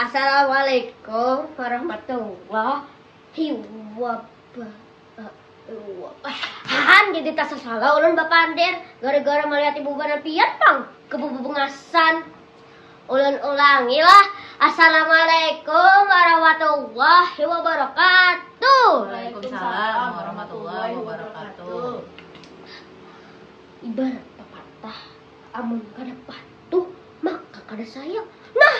Assalamualaikum warahmatullahi wabarakatuh. jadi tak sasalah ulun bapander gara-gara melihat ibu banar pian pang kebubungasan. Ulun ulangi lah, Assalamualaikum warahmatullahi wabarakatuh. Waalaikumsalam warahmatullahi wabarakatuh. Ibarat pepatah, amun kada patuh maka kada sayang. Nah,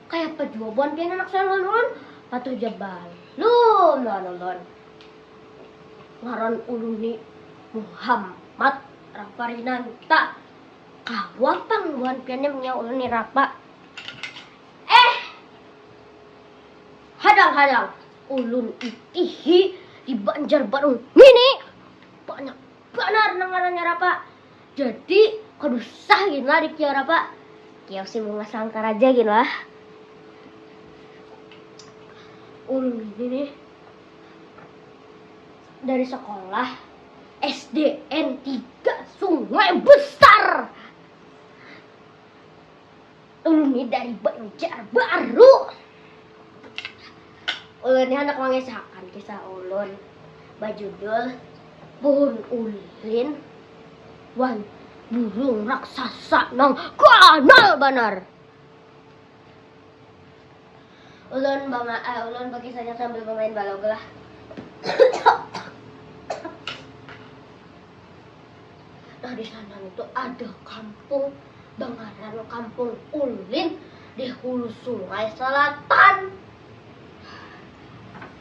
kayapa jua buhan pian anak sayang lawan ulun, patuh ja balum lawan ulun. Ngaran ulun ni Muhammad Rafarinanta. Kawa pang buhan pian nih menyaut ulun nih rapa. Eh! Hadang-hadang, ulun itihi di Banjarbaru ngini banyak banar nang ngarannya rapa. Jadi kada usah gin lah dikira rapa. Kiyau si Bungas Langkar aja gin lah. Ulun ini nih dari sekolah. SDN 3 Sungai Besar. Ulun ini dari Banjarbaru. Ulun ini anak mengisahkan kisah ulun bajudul Pohon Ulin wan Burung Raksasa nang ganal banar. Ulun bama eh ulun bakisahnya sambil bamain balog lah. Nah di sana itu ada kampung bangaran kampung ulin di hulu sungai selatan.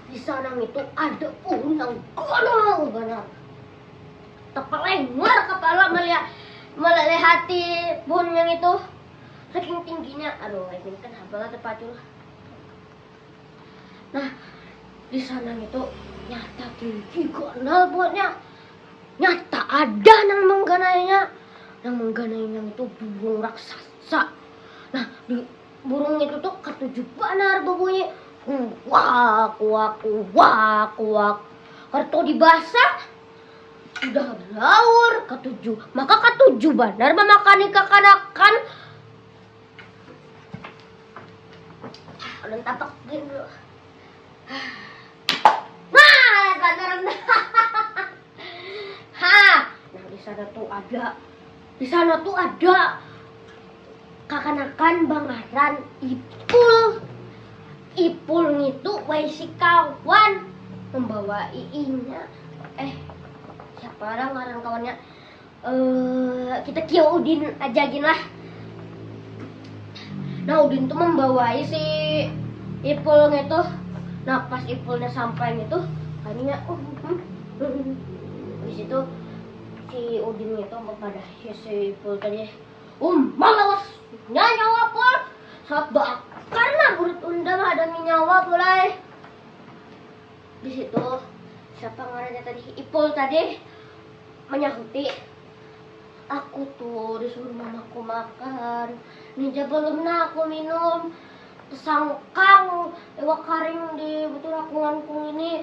Di sana itu ada pohon yang gondol benar. Terpelenggar kepala melihat melihati pohon yang itu. Saking tingginya, aduh ai gin kan habang ada pacul. Nah, di sana itu nyata tinggi ganal buatnya. Nyata ada nang mengganainya. Nang mengganainya itu burung raksasa. Nah, di burung itu tuh ketujuh banar berbunyi kuak kuak kuak kuak. Kartu dibasah Sudah laur katuju, maka katuju banar mamakani kakanakan. Ulun tapak gin dulu. Nah, banar. Ha, nah di sana tuh ada Di sana tuh ada kakanakan bangaran Ipul. Ipul ngitu waisi kawan membawa iinya. Eh, siapa orang ngaran kawannya? Eh, kita kia Udin aja gin lah. Nah, Udin tuh membawai si Ipul ngitu. Nah, pas Ipulnya sampai ngitu, kayaknya oh, hmm, hmm. hmm. Habis itu Si Udin ngitu mempadahi si Ipul tadi, Um, malawas! Nya nyawa Pul! Saat baakar nah burit unda mahadami nyawa Pul ai. Di situ, siapa ngarannya tadi, Ipul tadi manyahuti, Aku tu disuruh mamaku makan, nih ja balum nah aku minum, tasangkang iwak karing di butur akunganku ngini.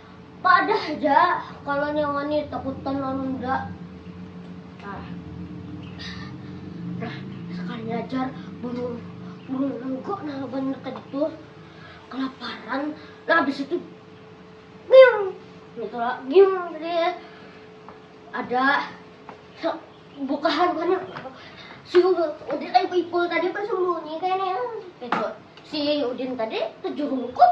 Padah ja kalau nyawa ni takutan lawan unda. Nah, nah sekali ajar burung burung nengko nah banyak tadi tuh kelaparan. Nah habis itu miung gitu lah miung dia ada bukahan mana si Udin eh Ipul tadi bersembunyi kayaknya itu si Udin tadi kejurung kok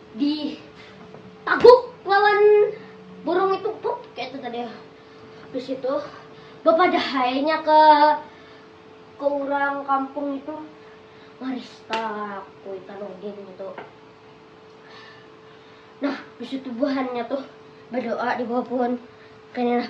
Di taguk lawan burung itu pup kayak itu tadi. Habis itu bapadahainya ke ke orang kampung itu maristak kuitan udin itu. Nah, habis itu buhannya tuh berdoa di bawah pohon. Kena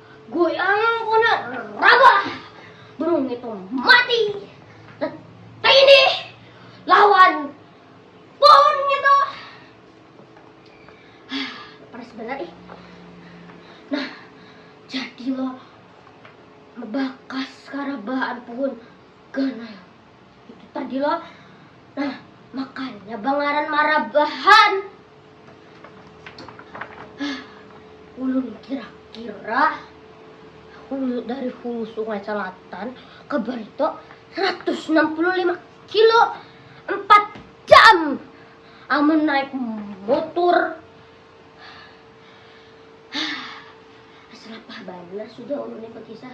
Goyangan kona rabah, burung itu mati, tetindih lawan pohon itu. Panas benar ih. Nah, jadi lo lebakas karabaan pohon ganal. Itu tadi lo. Nah, makanya bangaran marabahan. Ulun kira-kira hulu dari hulu sungai selatan ke Barito 165 kilo 4 jam amun naik motor selapah benar sudah ulun ini kisah